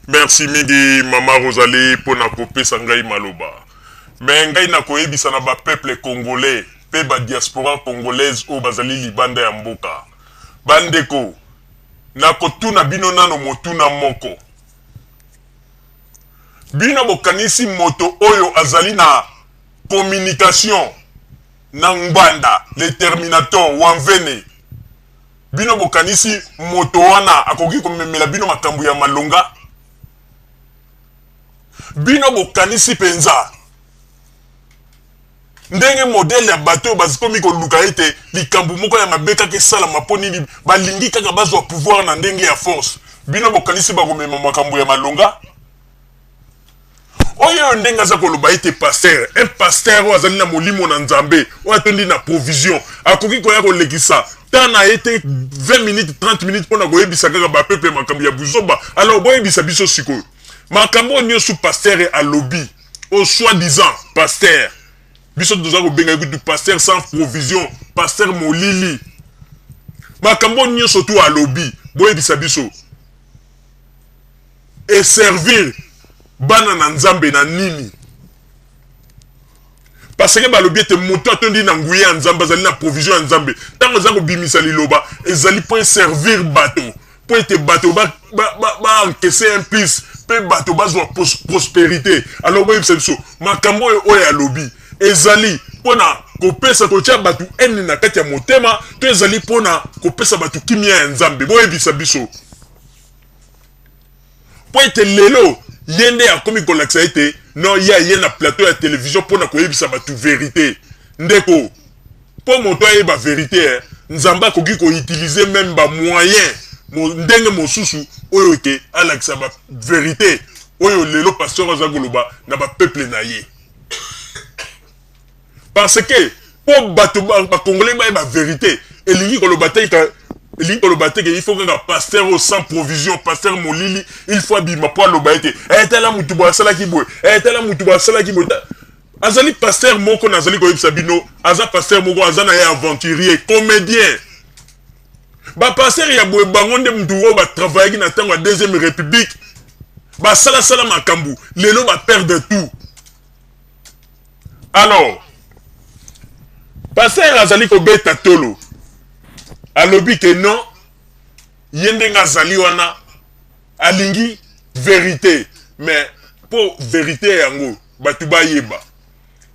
Merci mingi mama Rosalie mpo na kopesa ngai maloba. Me ngai nakoyebisa na ba peuple congolais mpe ba diaspora congolaise oyo bazali libanda ya mboka. Bandeko, nakotuna bino nano motuna moko. Bino bokanisi moto oyo azali na communication na Ngbanda le Terminator Wanvene Bino bokanisi moto wana akoki komemela bino makambo ya malonga? Bino bokanisi mpenza ndenge modele ya bato oyo bazikomi koluka ete likambo moko ya mabe kaka esalama mpo nini balingi kaka bazwa pouvoir na ndenge ya force bino bokanisi bakomema makambo ya malonga oyo oyo ndenge aza koloba ete pasteur un pasteur oyo azali na molimo na nzambe oyo atondi na provision akoki koya kolekisa temps na ye te 20 minutes 30 minutes mpo na koyebisa kaka bapeple makambo ya buzoba alors boyebisa biso sikoyo makambo oyo nyonso pasteur alobi au soi disant pasteur biso toza kobenga kutu pasteur sans provision pasteur molili makambo oyo nyonso tu alobi boyebisa biso e servir bana na nzambe na nini parce que balobi ete moto atondi na nguya ya nzambe azali na provision ya nzambe ntango aza kobimisa liloba ezali mpo eservir bato mpo ete bato baankese ba, ba, un plus mpe bato bazwa prosperité alors boyebisa biso makambo oyo oyo alobi ezali mpo na kopesa kotya bato ene na kati ya motema to ezali mpo na kopesa bato kimia ya nzambe boyebisa biso mpo ete lelo ye nde akomi kolakisa ete non ye aye na plateau ya television mpo na koyebisa bato verite ndeko mpo moto ayeba verite eh, nzambe akoki koutilize meme bamoyen ndenge mosusu oyo ete alakisa baverite oyo lelo pasteur aza koloba na bapeuple na ye parce que po bato bacongolais bayeba verité elingi koloba te elingi koloba te ke il faut kaka pasteur oyo sans provision pasteur molili il faut abima mpo aloba ete eh, tala motu boye asalaki boye eh, tala motu boye asalaki boye azali pasteur moko nazali koyebisa bino aza pasteur moko aza na ye aventurier comédien bapasteur ya boye bango nde motu oyo batravayaki na ntango ya deuxième république basalasala makambo lelo baperdre tout alors pasteur azali kobeta tolo alobi ke non ye ndenge azali wana alingi verite mais mpo verite yango bato bayeba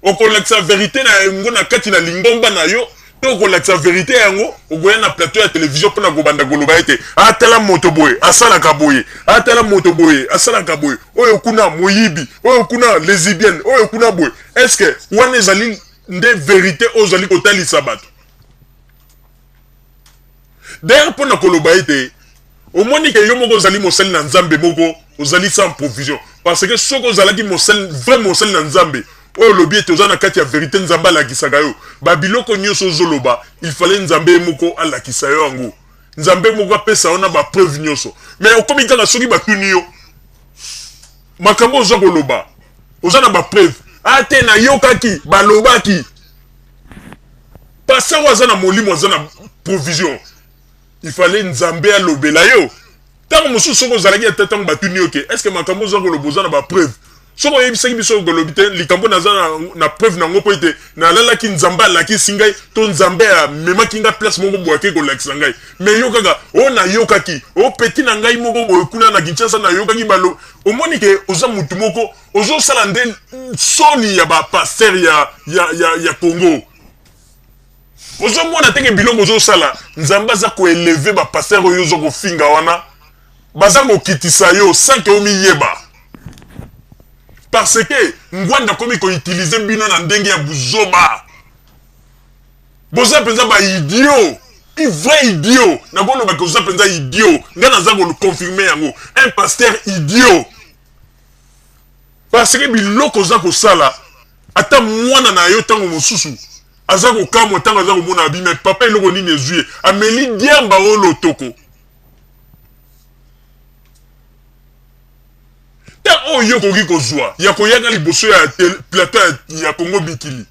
okolakisa verite na yango na kati na lingomba na yo to kolakisa verite yango okoya na plateau ya television mpona kobanda koloba ete atala ah, moto boye asalaka boye atala ah, moto boye asalaka boye oyo kuna moyibi oyo kuna lesibienne oyo kuna boye estce wana ezali nde verite oyo ozali kotalisa bato D'ailleurs, mpo na koloba ete omoni ke yo moko ozali mosali na Nzambe moko, ozali sans provision. Parce que soki ozalaki mosali, vrai mosali na Nzambe, oyo olobi ete oza na kati ya verite, Nzambe alakisaka yo. Ba biloko nyoso ozoloba, il fallait Nzambe ye moko alakisa yo yango. Nzambe moko apesa yo na ba preuves nyoso. Mais okomi kaka soki batuni yo, makambo oza koloba, oza na ba preuves? Ah te, nayokaki, balobaki. pasteur oyo aza na molimo aza na provision il fallait nzambe alobela yo ntango mosusu soki ozalaki ata ntango batuni yo te estce makambo oza koloba oza na bapreuve soki oyebisaki biso okolobi te likambo naza na, na preuve na yango mpo ete nalalaki nzambe alakisi ngai to nzambe amemaki ngai place moko boye ake kolakisa ngai me yo kaka oyo oh, nayokaki opeti oh, na ngai moko boye kuna na kinshasa nayokaki balo omoni ke oza motu moko ozosala nde soni ya bapaster ya, ya, ya, ya congo ozomona teke biloko ozosala nzambe aza koeleve bapaster oyo ozo kofinga wana baza kokitisa yo sanke omiyeba parce que ngwanda akomi koutilize bino na ndenge ya buzoba boza mpenza baidio un vrai idiot nakolobaka oza mpenza idiot ngai naza koconfirme yango un pasteur idiot parce que biloko oza kosala ata mwana na yo ntango mosusu aza kokamwa ntango aza komona abi me papa eloko nini ezwi ye ameli diamba o lotoko ta oyo okoki kozwa ya koyaka liboso ya plateau ya kongo bikili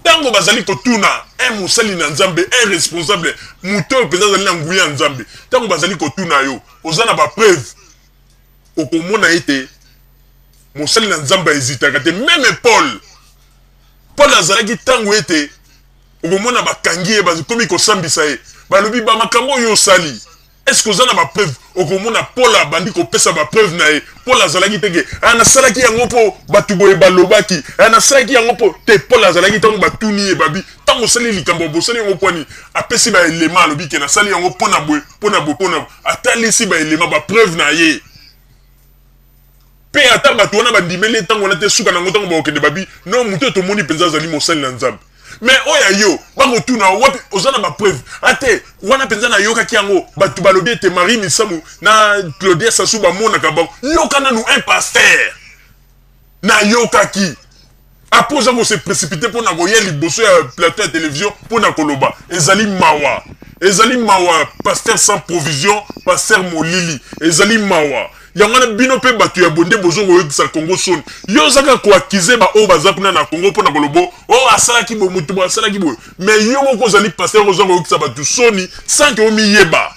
ntango bazali kotuna un mosali na nzambe un responsable moto oyo mpenza azali na nguya ya nzambe ntango bazali kotuna yo oza na bapreuve okomona ete mosali na nzambe aezitaka te meme paul paul azalaki ntango ete okomona bakangi ye bakomi kosambisa ye balobi bamakambo oyo osali Est-ce que oza na ba preuve okomona Paul abandi kopesa ba preuve na ye Paul azalaki te ke ah, nasalaki yango mpo bato boye balobaki ah, nasalaki yango mpo te Paul azalaki ntango batuni ye babi ntango osali likambo bosali yango mpo nini apesi baelema alobi ke nasali yango mpo na boye mpo na boye mpo na atalisi baelema bapreuve na ye Mpe ata bato wana bandimeli ye ntango wana te, suka na yango ntango bakokende babi, no moto oyo tomoni mpenza azali mosali na Nzambe. Me oyo ya yo, bakotuna yo wapi, oza na bapreuve? Ate wana mpenza nayokaki yango, bato balobi ete Marie Misamu na Claudia Sassou bamonaka bango. Yoka nanu un pasteur! Nayokaki. Après oza ko se précipiter mpo na koya liboso ya plateau ya television mpo na koloba ezali mawa ezali mawa pasteur sans provision pasteur molili ezali mawa yango wana bino mpe bato ya bonde bozo koyokisa congo soni yo ozaka koakize baoyo baza kuna na congo mpo na kolobo o oh, asalaki boye moto boye asalaki boye mais yo moko ozali pasteur oza koyokisa bato soni sanke omiyeba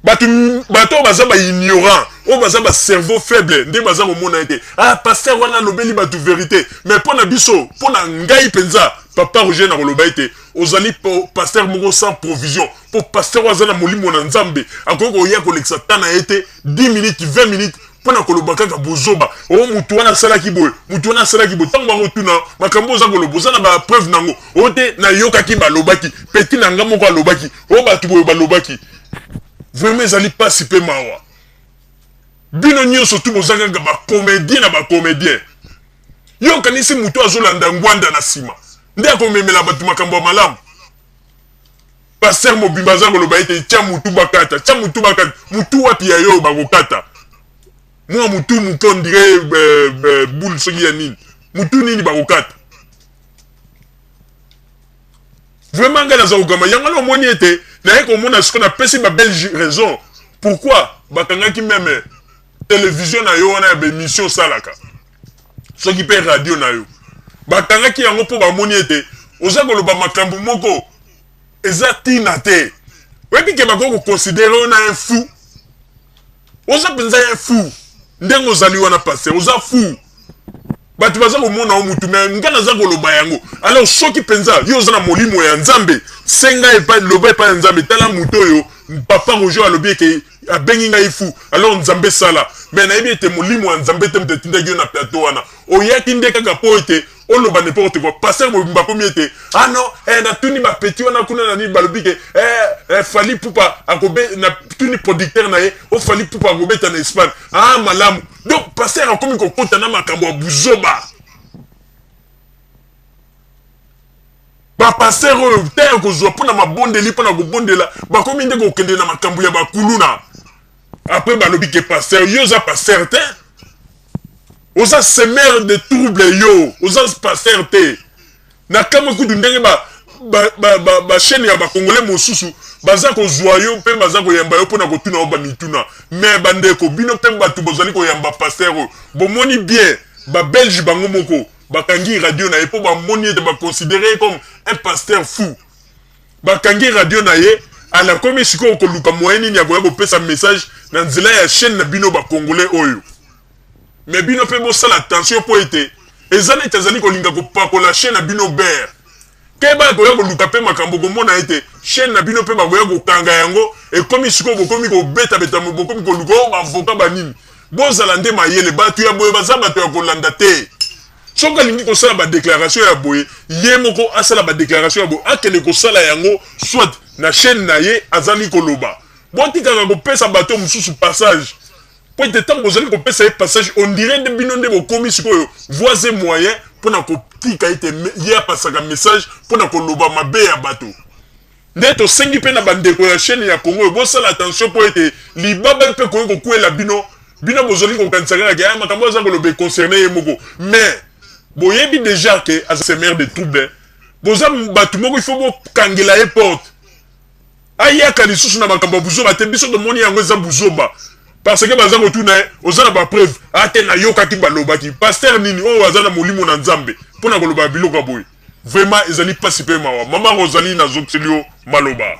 bato bato oyo baza baignorant oyo baza bacerveau faible nde baza komona ye te ah paster wana alobeli bato verité mais mpo na biso mpo na ngai mpenza papa roger nakoloba ete ozali paster moko sans provision mpo paster oyo aza na molimo na nzambe akoki koya kolekisa ta na ye te 10 minutes 20 minutes mpo na koloba kaka bozoba o oh, motu wana asalaki boye motu wana asalaki boye ntango bakotuna makambo oza koloba oza na bapreuve na yango o oh, te nayokaki balobaki peti na ngai moko alobaki oyo bato boye balobaki vraiment ezali mpasi mpe mawa bino nyonso tu boza kaka bacomédien na bacomédien yo okanisi moto azolanda ngwanda na nsima nde akomemela bato makambo ya malamu paster mobimba aza koloba ete tya motu bakata tya motu bakata motu wapi ya yo bakokata mwa motu moke ondire eh, eh, boule soki ya nini motu nini bakokata vraiment ngai naza kogamba yango wana omoni ete naye komona siko napesi babelge raison pourquoi bakangaki meme televizio na yo wana ya baemission osalaka soki mpe radio na yo bakangaki yango mpo bamoni ete oza koloba makambo moko eza ntina te oyebi ke bakoki kokonsidere yo na un fou oza mpenza ye fou ndenge ozali wana paster oza fou bato baza komona yo motu me ngai naza koloba yango alors soki mpenza yo oza na molimo ya nzambe senga epai loba epai ya nzambe tala moto oyo papa roger alobi eke abengi ngai fu alors nzambe sala me nayebi ete molimo ya nzambe te moto etindaki yo na plateau wana oyaki nde kaka mpo ete oloba n'importe quoi pasteur mobimba akomi ete ah non eh, natuni bapeti wana kuna na nini balobi ke eh, eh, fali pupa akobe natuni producteur na ye o oh, fali pupa akobeta na espagne ah malamu donc pasteur akomi kokota na makambo ya buzoba bapasteur oyo ntango kozwa mpo na mabondeli mpo na kobondela bakomi nde kokende na makambo ya bakuluna Après balobi ke pasteur, yo oza pasteur te. Oza semeur de trouble yo, oza pasteur te. Na kamwe kutu ndenge ba ba ba ba, ba chaîne ya ba congolais mosusu baza kozwa yo mpe baza koyamba yo mpona kotuna yo bamituna mais bandeko bino mpe bato bozali koyamba pasteur oyo bomoni bien babelge bango moko bakangi radio na ye mpo bamoni ete baconsidere ye comme un pasteur fou Bakangi radio na ye anakomi sikoyo koluka moyen nini akoya kopesa message na nzela ya chaîne na bino ba congolais oyo mais bino pe bosala attention po ete eza neti azali kolinga kopakola chaîne na bino ber keba akoya koluka pe makambo komona ete chaîne na bino pe bakoya kokanga yango ekomi sikoyo bokomi kobetabeta bokomi koluka o oh, bavoka banini bozala nde mayele bato ya boye baza bato ya kolanda te Soki alingi kosala ba declaration ya boye ye moko asala ba declaration ya boye akende kosala yango soit na chaine na ye azali koloba botikaka kopesa bato mosusu passage mpo ete ntango bozali kopesa ye passage on dirait nde bino nde bokomi sikoyo voies et moyen mpo na kotika ete ye apasaka message mpo na koloba mabe ya bato Nde tosengi mpe na ba ndeko ya chaine ya Congo oyo bosala attention mpo ete libaba mpe ekoki kokuela bino. Bino bozali kokanisa kaka ke ah makambo oyo aza koloba e concerner ye moko mais boyebi dejà ke aza semeur de trouble. Boza batu moko il faut bokangela ye porte ayaka lisusu na makambo ya buzoba te. Biso tomoni yango eza buzoba parce que baza kotuna ye oza na ba preuves? Ah te nayokaki balobaki. Pasteur nini oyo aza na molimo na Nzambe mpo na koloba biloko ya boye? Vraiment ezali pasi pe mawa. Maman Rosalie na zokiseli yo maloba.